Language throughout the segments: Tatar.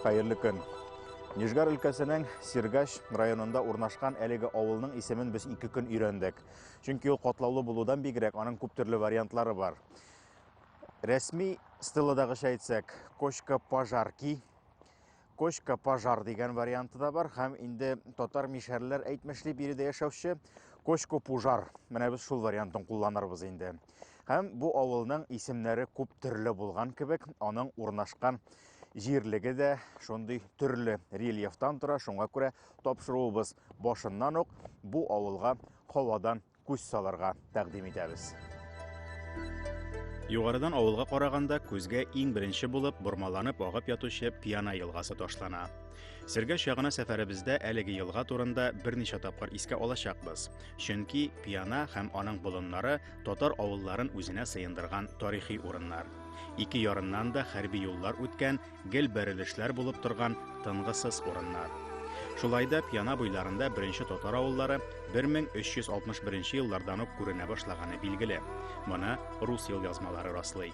Хәерле көн. Нижгар өлкәсенең Сиргач районында урнашкан әлеге авылның исемен без ике көн өйрәндек. Чөнки ул катлаулы булудан бигрәк аның күп төрле вариантлары бар. Рәсми стеладагыча әйтсәк, Кочка пожарки Кочка пожар дигән варианты да бар һәм инде татар мишәрләр әйтмешли биредә яшәүче кочко пужар. Менә без шул вариантын кулланырбыз инде. Һәм бу авылның исемнәре күп төрле булган кебек, аның урнашкан җирлеге дә шундый төрле рельефтан тора, шуңа күрә тапшыруыбыз башыннан ук бу авылга һавадан күз салырга тәкъдим итәбез. Югарыдан авылга караганда күзгә иң беренче булып бормаланып агып ятучы Пьяна елгасы ташлана. Сергәш ягына сәфәребездә әлеге елга турында берничә тапкыр искә алачакбыз. Чөнки Пьяна һәм аның болыннары татар авылларын үзенә сыендырган тарихи урыннар. Ике ярыннан да хәрби юллар үткән Гел бәрелешләр булып торган тынгысыз урыннар. Шулай да Пьяна буйларында беренче татар авыллары 1361 еллардан ук күренә башлаганы билгеле. Моны рус ел язмалары раслый.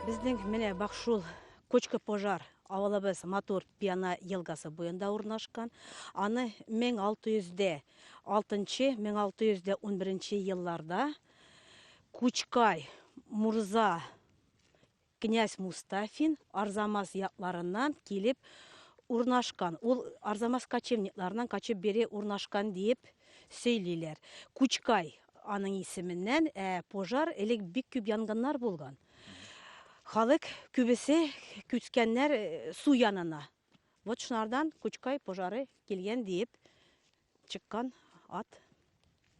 Безнең менә бак шул Кочка пожар авылыбыз матур Пьяна елгасы буенда урнашкан. Аны 1600 дә 6 1600 дә 11 елларда Кучкай мурза князь Мустафин Арзамас якларыннан килеп урнашкан. Ул Арзамас кочевникларыннан качып бере урнашкан диеп сөйлиләр. Кучкай аның исеменнән, ә пожар элек бик күп янгыннар булган. Халык күбесе күчкәннәр э, су янына. Вот шунардан Кучкай пожары килгән диеп Чыккан ат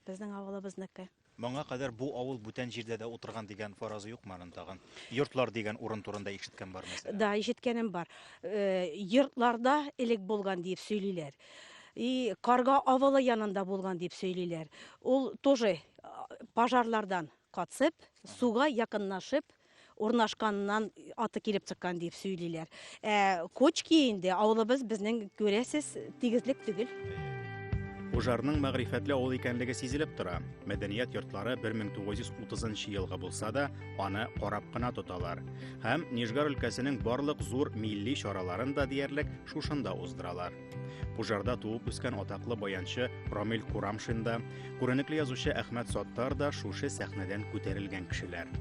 безнең авылыбызныкы. Моңа кадәр бу авыл бүтән җирдә дә утырган дигән фаразы юкмы аның тагын? Йортлар дигән урын турында ишеткән бар мәсәлән. Да, ишеткәнем бар. Э, йортларда элек булган диеп сөйлиләр. И Карга авылы янында булган дип сөйлиләр. Ул тоже пожарлардан катсып, суга якыннашып, урнашканнан аты килеп чыккан дип сөйлиләр. Ә Кочки инде авылыбыз безнең күрәсез тигезлек түгел. Ужарның мәгърифәтле авыл икәнлеге сизелеп тора. Мәдәният йортлары 1930 елгы булса да, аны карап кына тоталар. Һәм Нижгар өлкәсенең барлык зур милли чараларын да диярлек шушында уздыралар. Пужарда туып үскән атаклы баянчы Рамил Курамшин да, күренекле язучы Әхмәт Саттар да шушы сәхнәдән күтәрелгән кешеләр.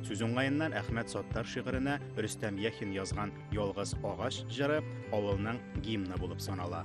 Сүз уңаеннан Әхмәт Саттар шигыренә Рөстәм Яхин язган Ялгыз агач җыры авылның гимны булып санала.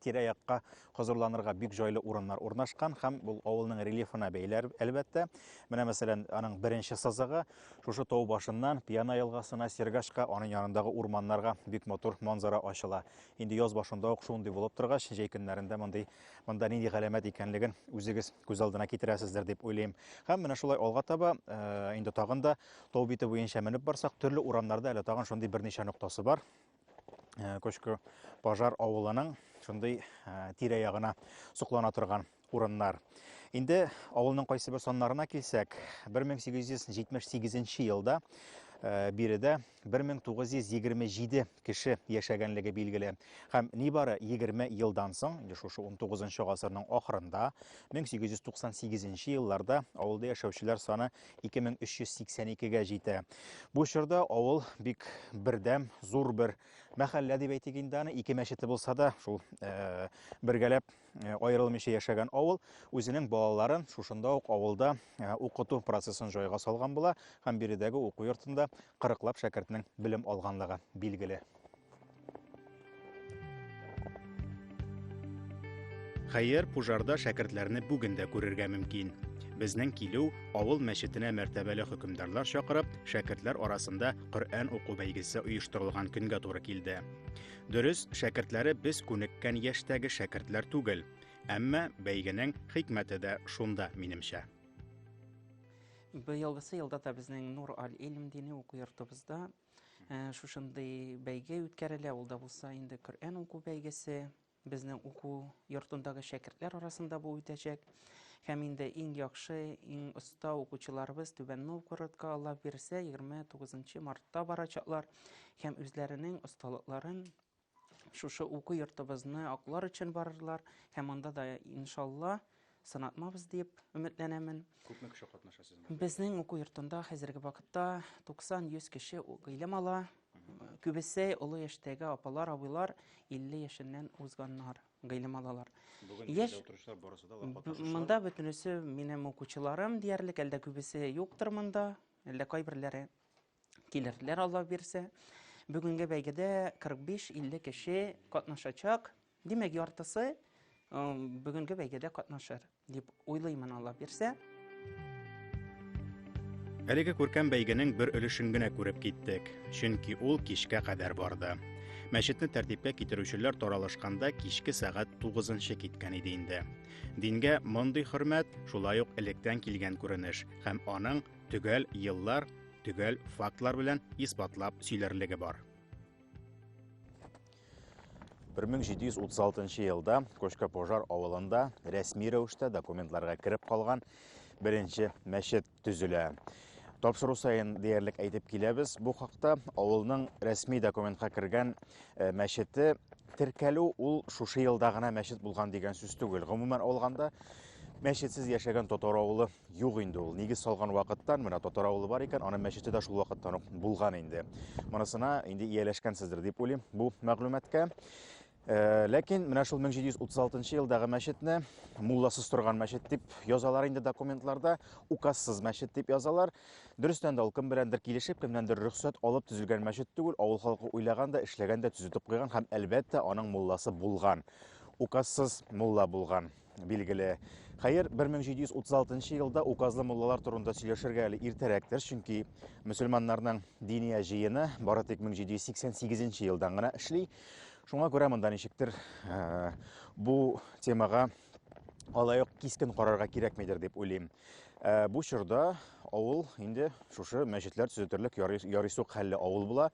тирә-якка хозурланырга бик җайлы урыннар урнашкан һәм бул авылның рельефына бәйле әлбәттә. Менә мәсәлән, аның беренче сызыгы шушы тау башыннан Пьяна елгасына, Сергашка, аның янындагы урманнарга бик матур манзара ачыла. Инде яз башында ук шундый булып торгач, җәй көннәрендә мондый монда нинди галәмәт икәнлеген үзегез күз алдына китерәсездер дип уйлыйм. Һәм менә шулай алга таба э, инде тагын да тау бите буенча менеп барсак, төрле урамнарда әле тагын шундый берничә ноктасы бар. э, Көшке пожар авылының шундый э, тирә ягына соклана торган урыннар. Инде авылның кайсы бер саннарына килсәк, 1878 елда э, биредә 1927 кеше яшәгәнлеге билгеле. Һәм нибары 20 елдан соң, инде шушы 19 гасырның ахырында, 1898 елларда авылда яшәүчеләр саны 2382 гә җитә. Бу чорда авыл бик бердәм, зур бер мәхәллә дип әйтик инде аны, ике мәчете булса да, шул э, бергәләп э, аерылмыйча яшәгән авыл үзенең балаларын шушында ук авылда э, укыту процессын җайга салган була һәм биредәге уку йортында Кырыклап шәкертнең белем алганлыгы билгеле. Хәер, пужарда шәкертләрне бүген дә күрергә мөмкин. Безнең килү авыл мәчетенә мәртәбәле хөкемдарлар чакырып, шәкертләр арасында Коръән уку бәйгесе оештырылган көнгә туры килде. Дөрес, шәкертләре без күнеккән яшьтәге шәкертләр түгел, әмма бәйгенең хикмәте дә шунда, минемчә. Быелгысы елда да безнең Нур аль-Илм дини уку йортыбызда шушындый бәйге үткәрелә. Ул да булса инде Коръән уку бәйгесе. Безнең уку йортындагы шәкертләр арасында бу үтәчәк. Һәм инде иң яхшы, иң оста укучыларыбыз Түбән Новгородка Алла бирсә 29 мартта барачаклар һәм үзләренең осталыкларын шушы уку йортыбызны аклар өчен барырлар һәм анда да иншалла сынатмабыз дип өметләнәмен. Күпме кеше катнаша сезнең? Безнең уку йортында хәзерге вакытта 90-100 кеше гыйлем ала. Күбесе олы яшьтәге апалар, абыйлар 50 яшеннән узганнар гыйлем алалар. Бүген яшь утыручылар барысы да катнашучылар. Монда бөтенесе минем укучыларым диярлек, әлдә күбесе юктыр монда, әллә кайберләре килерләр, Алла бирсә. Бүгенге бәйгедә 45-50 кеше катнашачак. Димәк, яртысы бүгенге бәйгедә катнашыр, дип уйлыймын, Алла бирсә. Әлеге күркәм бәйгенең бер өлешен генә күреп киттек, чөнки ул кичкә кадәр барды. Мәчетне тәртипкә китерүчеләр таралышканда кичке сәгать 9-нчы киткән иде инде. Дингә мондый хөрмәт шулай ук электән килгән күренеш һәм аның Төгәл еллар, төгәл фактлар белән исбатлап сөйләрлеге бар. 1736 елда Кочка Пожар авылында рәсми рәвештә документларга кереп калган беренче мәчет төзелә. Тапшыру сайын диярлек әйтеп киләбез бу хакта. Авылның рәсми документка кергән э, мәчете теркәлү ул шушы елда гына мәчет булган дигән сүз түгел. Гомумән алганда, Мәчетсез яшәгән татар авылы юк инде ул. Нигез салган вакыттан менә татар авылы бар икән, аның мәчете дә шул вакыттан ук булган инде. Монысына инде ияләшкәнсездер дип уйлыйм бу мәгълүматка. Э, ләкин менә шул 1736 елдагы мәчетне мулласыз торган мәчет дип язалар инде документларда, указсыз мәчет дип язалар. Дөрестән дә ул кем беләндер килешеп, кемнәндер рөхсәт алып төзелгән мәчет түгел, авыл халкы уйлаган да, эшләгән дә, төзетеп куйган һәм әлбәттә аның мулласы булган указсыз мулла булган. билгеле. Хәер, 1736 елда указлы муллалар турында сөйләшергә әле иртәрәктер, чөнки мөселманнарның диния җыены бары тик 1788 елдан гына эшли. Шуңа күрә монда ничектер э, бу темага алай ук кискен карарга кирәкмидер дип уйлыйм. Э, бу чорда авыл инде шушы мәчетләр төзетерлек ярыйсук хәлле авыл була.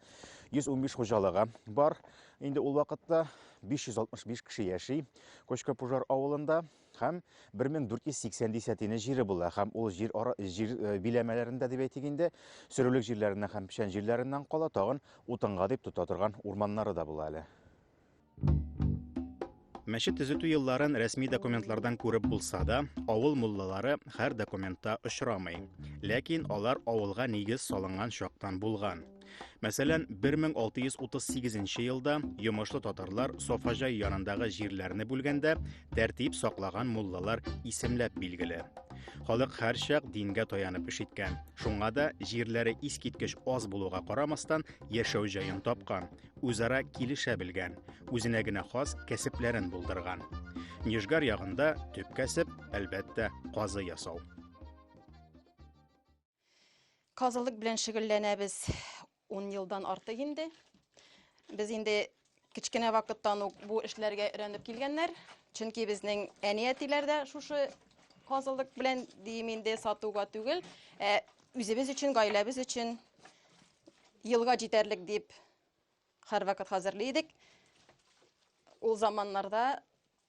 115 хуҗалыгы бар. Инде ул вакытта 565 кеше яши. Кочка-Пужар авылында һәм 1480 дисәтине җире була һәм ул җир ара җир э, биләмәләрендә дип әйтик инде, сөрүлек җирләреннән һәм печән җирләреннән кала тагын утынга дип тота торган урманнары да була әле. Мәчет төзетү елларын рәсми документлардан күреп булса да, авыл муллалары һәр документта очрамый. Ләкин алар авылга нигез салынган чактан булган. Мәсәлән, 1638 елда йомышлы татарлар Софаҗай янындагы җирләрне бүлгәндә тәртип саклаган муллалар исемләп билгеле. Халык һәрчак дингә таянып эш иткән. Шуңа да җирләре искиткеч аз булуга карамастан яшәү җаен тапкан, үзара килешә белгән, үзенә генә хас кәсепләрен булдырган. Нижгар ягында төп кәсеп, әлбәттә, казы ясау. Казылык белән шөгыльләнәбез ун елдан артык инде. Без инде кечкенә вакыттан ук бу эшләргә өйрәнеп килгәннәр. Чөнки безнең әни-әтиләр дә шушы казылык белән дим инде сатуга түгел, ә үзебез өчен, гаиләбез өчен елга җитәрлек дип һәрвакыт хәзерли идек. Ул заманнарда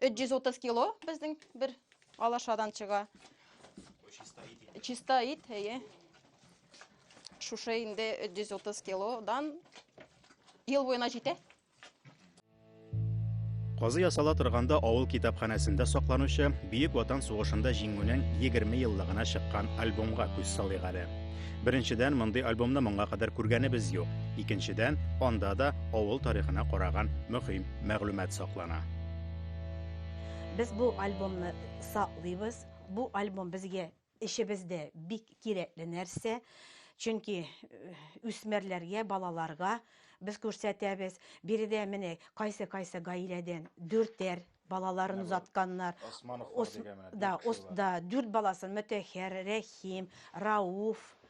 330 кило безнең бер алашадан чыга. Чиста ит, әйе. Шушы инде 330 килодан ел буена җитә. Казы ясала торганда авыл китапханәсендә сакланучы Бөек Ватан сугышында җиңүнең 20 еллыгына чыккан альбомга күз салыйк әле. Беренчедән, мондый альбомны моңа кадәр күргәнебез юк. Икенчедән, анда да авыл тарихына караган мөһим мәгълүмат саклана. Без бу альбомны саклыйбыз. Бу альбом безгә эчебездә бик кирәкле нәрсә. Чөнки үсмерләргә, э, балаларга без күрсәтәбез. Биредә менә кайсы-кайсы гаиләдән дүртәр балаларын озатканнар. Османовлар дигән менә. Да, ос, да, дүрт баласын Мөтәһәр, Рәхим, Рауф,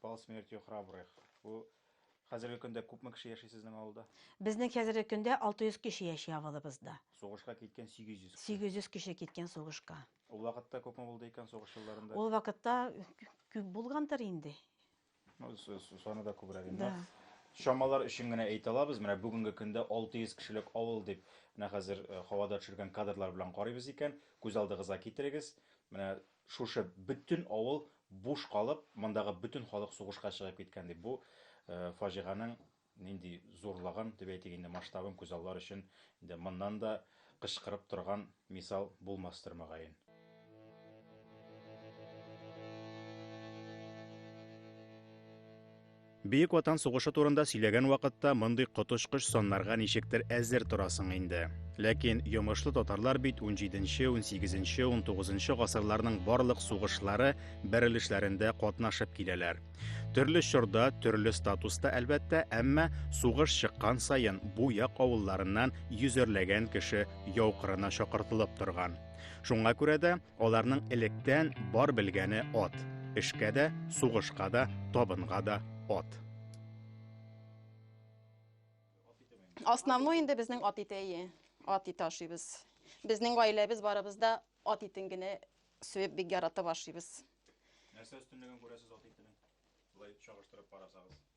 Пал смертью храбрых. Бу хәзерге көндә күпме кеше яши сезнең авылда? Безнең хәзерге көндә 600 кеше яши авылыбызда. Сугышка киткән 800 кеше. 800 кеше киткән сугышка. Ул вакытта күпме булды икән сугыш елларында? Ул вакытта күп булгандыр инде. Ну, саны да күбрәк инде. Да. Чамалар өчен генә әйтә алабыз. Менә бүгенге көндә 600 кешелек авыл дип, менә хәзер э, һавада төшергән кадрлар белән карыйбыз икән, күз алдыгызга китерегез. Менә Шушы бөтен авыл буш калып, мондагы бөтен халык сугышка чыгып киткән, дип бу фаҗиганең нинди зурлыгын, дип әйтик инде, масштабын күзаллар өчен инде моннан да кычкырып торган мисал булмастыр, мөгаен. Бөек Ватан сугышы турында сөйләгән вакытта мондый коточкыч саннарга ничектер әзер торасың инде. Ләкин йомышлы татарлар бит 17-нче, 18-нче, 19-нчы гасырларның барлык сугышлары бәрелешләрендә катнашып киләләр. Төрле чорда, төрле статуста әлбәттә, әмма сугыш чыккан саен бу як авылларыннан йөзәрләгән кеше яу кырына чакыртылып торган. Шуңа күрә дә Аларның электән бар белгәне ат. Эшкә дә, сугышка да, табынга да ат. Основной инде безнең ат ите, әйе. Ат ите ашыйбыз. Безнең гаиләбез барыбыз да ат итен генә сөеп бик яратып ашыйбыз. Нәрсә өстенлеген күрәсез ат итенең? Болай чагыштырып карасагыз.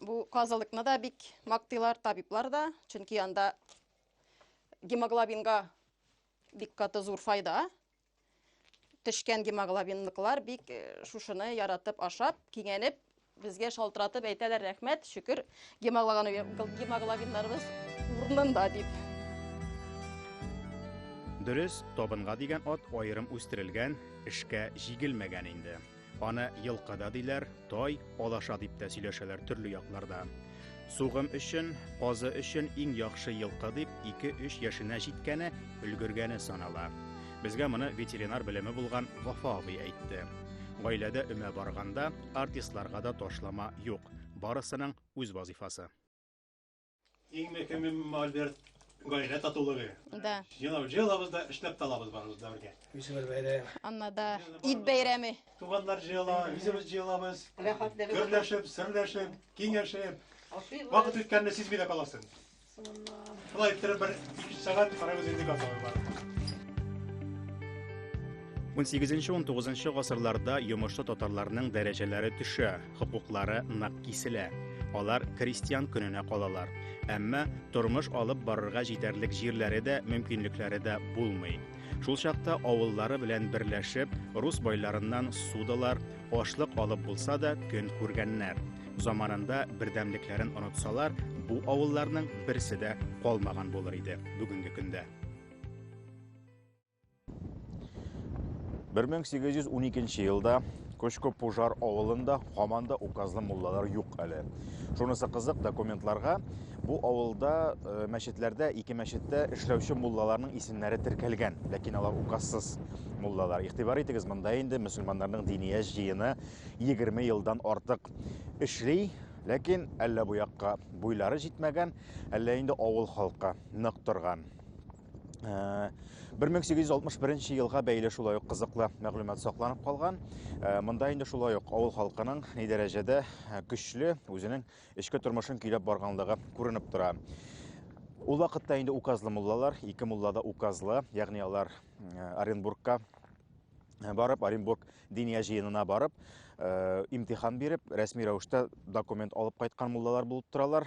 Бу казылыкны да бик мактыйлар табиблар да, чөнки анда гемоглобинга бик каты зур файда. Тешкән гемоглобинлыклар бик э, шушыны яратып ашап, киңәнеп, безгә шалтыратып әйтәләр рәхмәт, шөкер, гемоглобиннарыбыз урынында дип. Дөрес, табынга дигән ат аерым үстерелгән, эшкә җигелмәгән инде. Аны елка да диләр, тай, алаша дип тә сөйләшәләр төрле якларда. Сугым өчен, казы өчен иң яхшы елка дип 2-3 яшенә җиткәне, өлгергәне санала. Безгә моны ветеринар белеме булган Вафа абый әйтте. Гаиләдә өмә барганда артистларга да ташлама юк. Барысының үз вазифасы. Иң мөһиме Альберт гаилә татулыгы. Да. Елау җыелабыз да эшләп талабыз барыбыз да бергә. Үзебез бәйрәм. Анна да ит бәйрәме. Туганнар җыела, үзебез җыелабыз. Гөрләшеп, серләшеп, киңәшеп. Вакыт үткәнне сизми дә каласың. Шулай иттереп бер 2 сәгать карабыз инде газабы бар. 18-19 гасырларда йомышлы татарларның дәрәҗәләре төшә. хокуклары нык киселә. Алар крестьян көненә калалар. Әмма тормыш алып барырга җитәрлек җирләре дә, мөмкинлекләре дә булмый. Шул чакта авыллары белән берләшеп, рус байларыннан судалар, ашлык алып булса да көн күргәннәр. Заманында бердәмлекләрен онытсалар, бу авылларның берсе дә калмаган булыр иде бүгенге көндә. Бер мең сигез йөз уникенче елда Көчкө пожар авылында һаман да указлы муллалар юк әле. Шунысы кызык, документларга бу авылда э, мәчетләрдә, ике мәчеттә эшләүче муллаларның исемнәре теркәлгән, ләкин алар указсыз муллалар. Игътибар итегез, монда инде мөселманнарның диния җыены 20 елдан артык эшли, ләкин әллә бу якка буйлары җитмәгән, әллә инде авыл халкы нык торган. 1861 э, елга бәйле шулай ук кызыклы мәгълүмат сакланып калган. Э, монда инде шулай ук авыл халкының ни дәрәҗәдә э, көчле үзенең эчке тормышын көйләп барганлыгы күренеп тора. Ул вакытта инде указлы муллалар, ике мулла да указлы, ягъни алар Оренбургка барып, Оренбург диния җыенына барып, имтихан биреп, рәсми рәвештә документ алып кайткан муллалар булып торалар.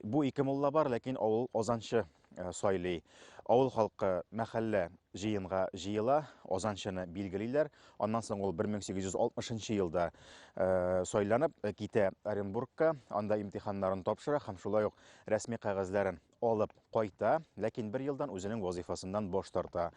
Бу ике мулла бар, ләкин авыл азанчы э, сайлый. Авыл халкы мәхәллә җыенга җыела, азанчыны билгелиләр. Аннан соң ул 1860 елда э, сайланып э, китә Оренбургка, анда имтиханнарын тапшыра һәм шулай ук рәсми кәгазьләрен алып кайта, ләкин бер елдан үзенең вазифасыннан баш тарта.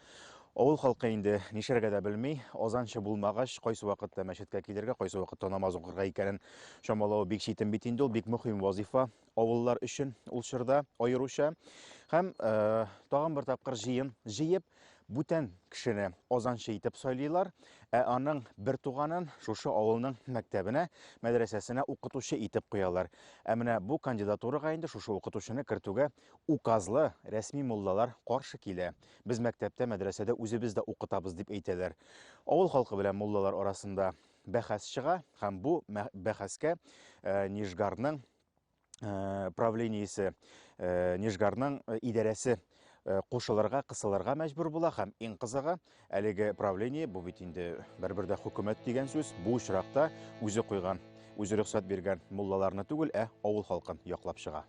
Авыл халкы инде нишәргә дә белми, азанчы булмагач, кайсы вакытта мәчеткә килергә, кайсы вакытта намаз укырга икәнен Чамалау бик читен бит инде ул, бик мөһим вазифа авыллар өчен ул чорда аеруча. Һәм э, тагын бер тапкыр җыен җыеп, бүтән кешене азанчы итеп сайлыйлар, ә аның бер туганын шушы авылның мәктәбенә, мәдрәсәсенә укытучы итеп куялар. Ә менә бу кандидатурага инде шушы укытучыны кертүгә указлы рәсми муллалар каршы килә. Без мәктәптә, мәдрәсәдә үзебез дә укытабыз дип әйтәләр. Авыл халкы белән муллалар арасында бәхәс чыга һәм бу бәхәскә Нижгарның правлениесе, Нижгарның идарәсе кушылырга, кысылырга мәҗбүр була һәм иң кызыгы, әлеге правление, бу бит инде бер-бер дә хөкүмәт дигән сүз, бу очракта үзе куйган, үзе рөхсәт биргән муллаларны түгел, ә авыл халкын яклап чыга.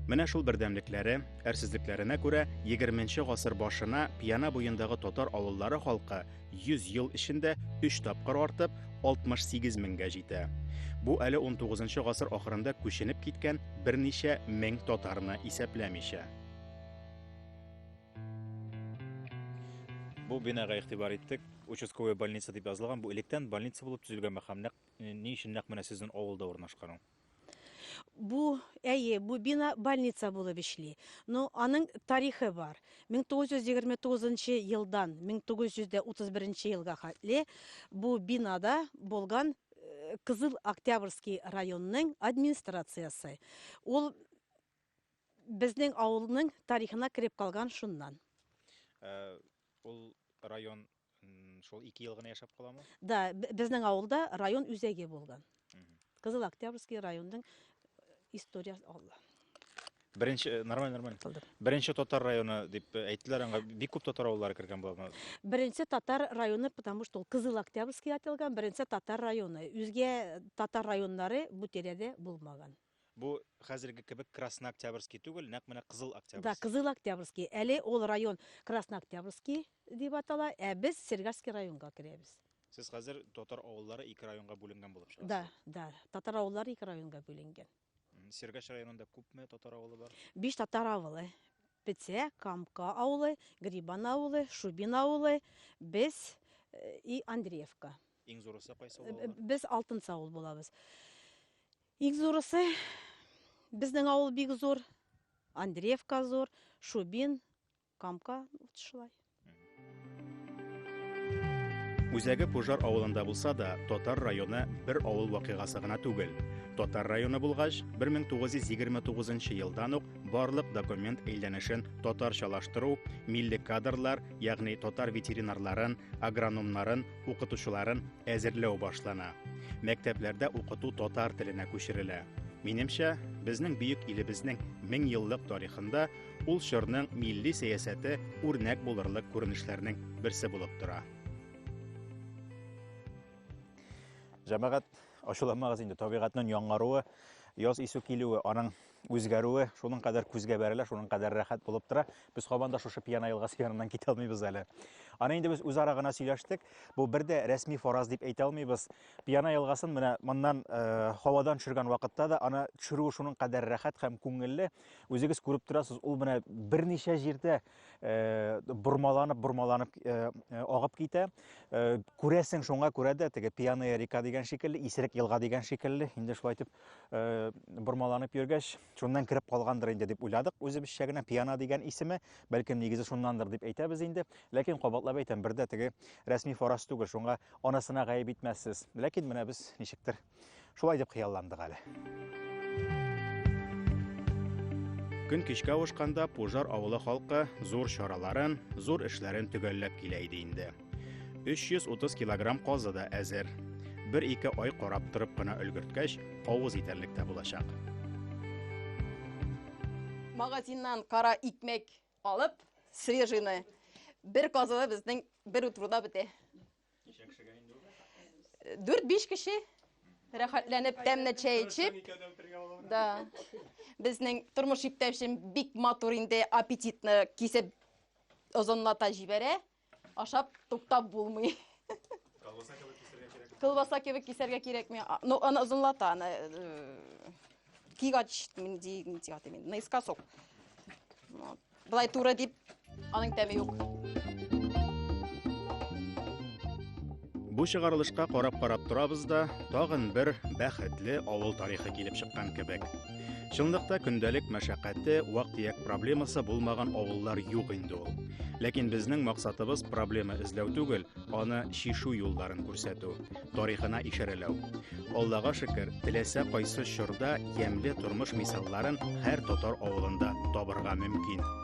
Менә шул бердәмлекләре, әрсезлекләренә күрә 20 гасыр башына Пьяна буендагы татар авыллары халкы 100 ел эчендә 3 тапкыр артып 68 меңгә җитә. Бу әле 19 гасыр ахырында күченеп киткән берничә мең татарны исәпләмичә. Бу бинага игътибар иттек. Участковая больница дип язылган. Бу электән больница булып төзелгән мәхәм. Нәкъ Ни өчен нәкъ менә сезнең авылда урнашкан Бу, әйе, бу бина больница булып эшли. Но аның тарихы бар. 1929 елдан 1931 елга хәтле бу бинада булган э, Кызыл Октябрьский районның администрациясе. Ул безнең авылның тарихына кереп калган шуннан. Э, ул район Шул ике ел гына яшәп каламы? Да, безнең авылда район үзәге булган. Кызыл Октябрьский районның история алла. Беренче э, нормаль нормаль. Беренче татар районы дип э, әйттеләр аңа. Бик күп татар авыллары кергән булган. Беренче татар районы, потому что ул Кызыл Октябрьский аталган, беренче татар районы. Үзгә татар районнары бу тирәдә булмаган. Бу хәзерге кебек Краснооктябрьский түгел, нәкъ менә Кызыл Октябрьский. Да, Кызыл Октябрьский. Әле ул район Краснооктябрьский дип атала, ә без Сергаский районга керәбез. Сез хәзер татар авыллары ике районга бүленгән булып чыгасыз. Да, да, татар авыллары ике районга бүленгән. Сергач районында күпме татар авылы бар? Биш татар авылы. Петсә, Камка авылы, Грибан авылы, Шубин авылы, без э, и Андреевка. Иң зурысы кайсы э, авыл? Без Алтын Саул булабыз. Ик зурысы, безнең авыл бик зур, Андреевка зур, Шубин, Камка, вот шулай. Үзәге Пожар авылында булса да, Татар районы бер авыл вакыйгасы гына түгел. Татар районы булгач, 1929 елдан ук барлык документ әйләнешен татарчалаштыру, милли кадрлар, ягъни татар ветеринарларын, агрономнарын, укытучыларын әзерләү башлана. Мәктәпләрдә укыту татар теленә күчерелә. Минемчә, безнең бөек илебезнең 1000 еллык тарихында ул чорның милли сәясәте үрнәк булырлык күренешләрнең берсе булып тора. Җәмәгать ачуламагыз инде, табигатьнең яңаруы, яз исү килүе, аның үзгәрүе шуның кадәр күзгә бәрелә, шуның кадәр рәхәт булып тора. Без кабан да шушы пьяна елгасы яныннан китә алмыйбыз әле. Аны инде без үзара гына сөйләштек. Бу бер дә рәсми фараз дип әйтә алмыйбыз. Пьяна елгасын менә моннан э, һавадан төшергән вакытта да аны төшерүе шуның кадәр рәхәт һәм күңелле. Үзегез күреп торасыз, ул менә берничә җирдә э, бормаланып, бормаланып э, э агып китә. Э, күрәсең, шуңа күрә дә теге пьяная река дигән шикелле, исерек елга дигән шикелле, инде шулай итеп Э, бормаланып йөргәч, шуннан кереп калгандыр инде дип уйладык үзебезчә генә пиана дигән исеме, бәлкем нигезе шуннандыр дип әйтәбез инде. Ләкин кабатлап әйтәм, бердә теге рәсми фараз түгел, шуңа анасына гаеп итмәссез. Ләкин менә без ничектер шулай дип хыялландык әле. Көн кичкә авышканда Пужар авылы халкы зур чараларын, зур эшләрен төгәлләп килә иде инде. 330 килограмм казы да әзер. Бер-ике ай карап торып кына өлгерткәч, авыз итәрлек тә булачак. Магазиннан кара икмәк алып, свежийны бер казыда безнең бер утруда бетә. Ничә кешегә инде ул? 4-5 кеше рәхәтләнеп тәмле чәй эчеп да безнең тормыш иптәшем бик матур инде аппетитны кисеп озынлата җибәрә Ашап туктап булмый. Колбаса кебек кисергә кирәк. Колбаса кебек кисәргә кирәкми. А, Ну, аны озынлата, аны э, кигач нинди нинди аты мин, наискосок. Вот. Былай туры дип аның тәме юк. Бу чыгарылышка карап-карап торабыз да, тагын бер бәхетле авыл тарихы килеп чыккан кебек. Чынлыкта көндәлек мәшәкате, вак-төяк проблемасы булмаган авыллар юк инде ул. Ләкин безнең максатыбыз проблема эзләү түгел, аны чишу юлларын күрсәтү, тарихына ишарәләү. Аллага шөкер, теләсә кайсы чорда ямьле тормыш мисалларын һәр татар авылында табырга мөмкин.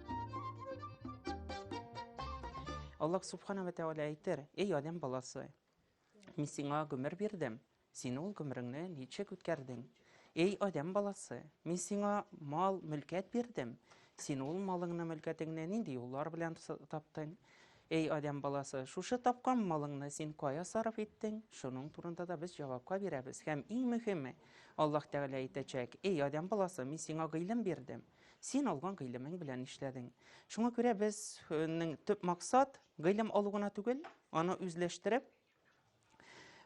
Аллах Субхана ва Тәгалә әйтер, эй адәм баласы, мин сиңа гомер бирдем, син ул гомереңне ничек үткәрдең? Эй адәм баласы, мин сиңа мал, мөлкәт бирдем, син ул малыңны, мөлкәтеңне нинди юллар белән таптың? Эй адәм баласы, шушы тапкан малыңны син кая сарыф иттең? Шуның турында да без җавапка бирәбез. Һәм иң мөһиме, Аллаһ Тәгалә әйтәчәк, эй адәм баласы, мин сиңа гыйлем бирдем. Син алган гыйлемең белән нишләдең? Шуңа күрә безнең төп максат гыйлем алу гына түгел, аны үзләштереп,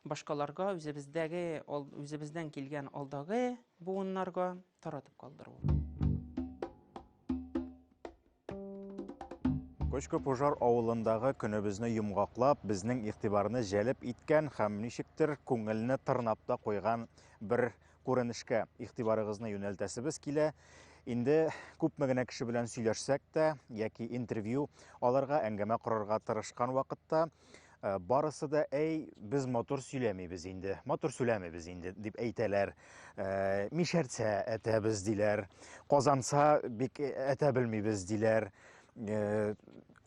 башкаларга, үзебездәге, үзебездән килгән алдагы буыннарга таратып калдыру. Көчкө пожар авылындагы көнебезне йомгаклап, безнең игътибарны җәлеп иткән һәм ничектер күңелне тырнап та куйган бер күренешкә игътибарыгызны юнәлтәсебез килә. Инде күпме генә кеше белән сөйләшсәк тә яки интервью аларга, әңгәмә корырга тырышкан вакытта Э, барысы да әй без мотор сөйләмибез инде мотор сөйләмибез инде дип әйтәләр э, мишәртсә әтәбез диләр казанса бик әтә белмибез диләр э,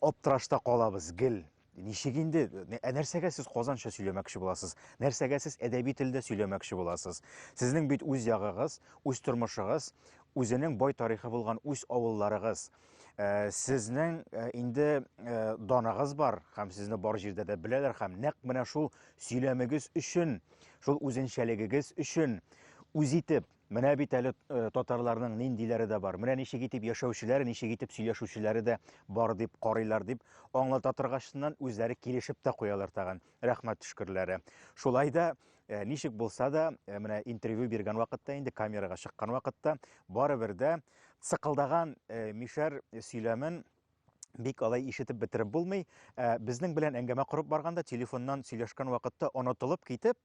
аптырашта калабыз гел Ничек инде? Ә нәрсәгә сез казанча сөйләмәкче буласыз? Нәрсәгә сез әдәби телдә сөйләмәкче буласыз? Сезнең бит үз ягыгыз, үз тормышыгыз, үзенең бай тарихы булган үз авылларыгыз. Э, сезнең э, инде э, даныгыз бар һәм сезне бар җирдә дә беләләр һәм нәкъ менә шул сөйләмегез өчен, шул үзенчәлегегез өчен үз итеп Менә бит әле э, татарларның ниндиләре дә бар. Менә ничек итеп яшәүчеләре, ничек итеп сөйләшүчеләре дә бар дип карыйлар дип аңлата торгачыннан үзләре килешеп тә куялар тагын. Рәхмәт төшкерләре. Шулай да э, ничек булса да, э, менә интервью биргән вакытта инде камерага чыккан вакытта барыбер дә цыкылдаган мишәр сөйләмен бик алай ишетеп бетереп булмый. Ә, безнең белән әңгәмә корып барганда, телефоннан сөйләшкән вакытта онытылып китеп,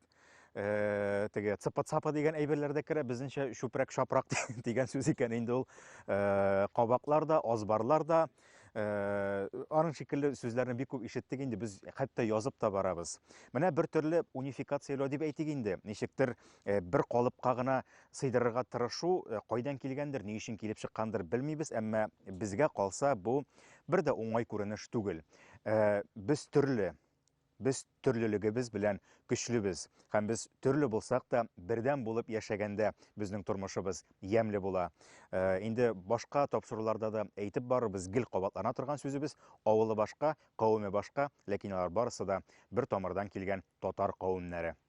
ә, теге цыпа-цапа дигән әйберләр дә керә, безнеңчә чүпрәк-шапрак дигән сүз икән инде ул. Ә, кабаклар да, азбарлар да, ә, аның шикелле сүзләрне бик күп ишеттек инде, без хәтта язып та барабыз. Менә бер төрле унификацияләү дип әйтик инде, ничектер, ә, бер калыпка гына сыйдырырга тырышу кайдан килгәндер, ни өчен килеп чыккандыр белмибез, әмма безгә калса бу бер дә уңай күренеш түгел. Без төрле, без төрлелегебез белән көчлебез һәм без төрле булсак та бердәм булып яшәгәндә безнең тормышыбыз ямьле була. Инде башка тапшыруларда да әйтеп барыбыз, гел кабатлана торган сүзебез, авылы башка, кавеме башка, ләкин алар барысы да бер тамырдан килгән татар кавемнәре.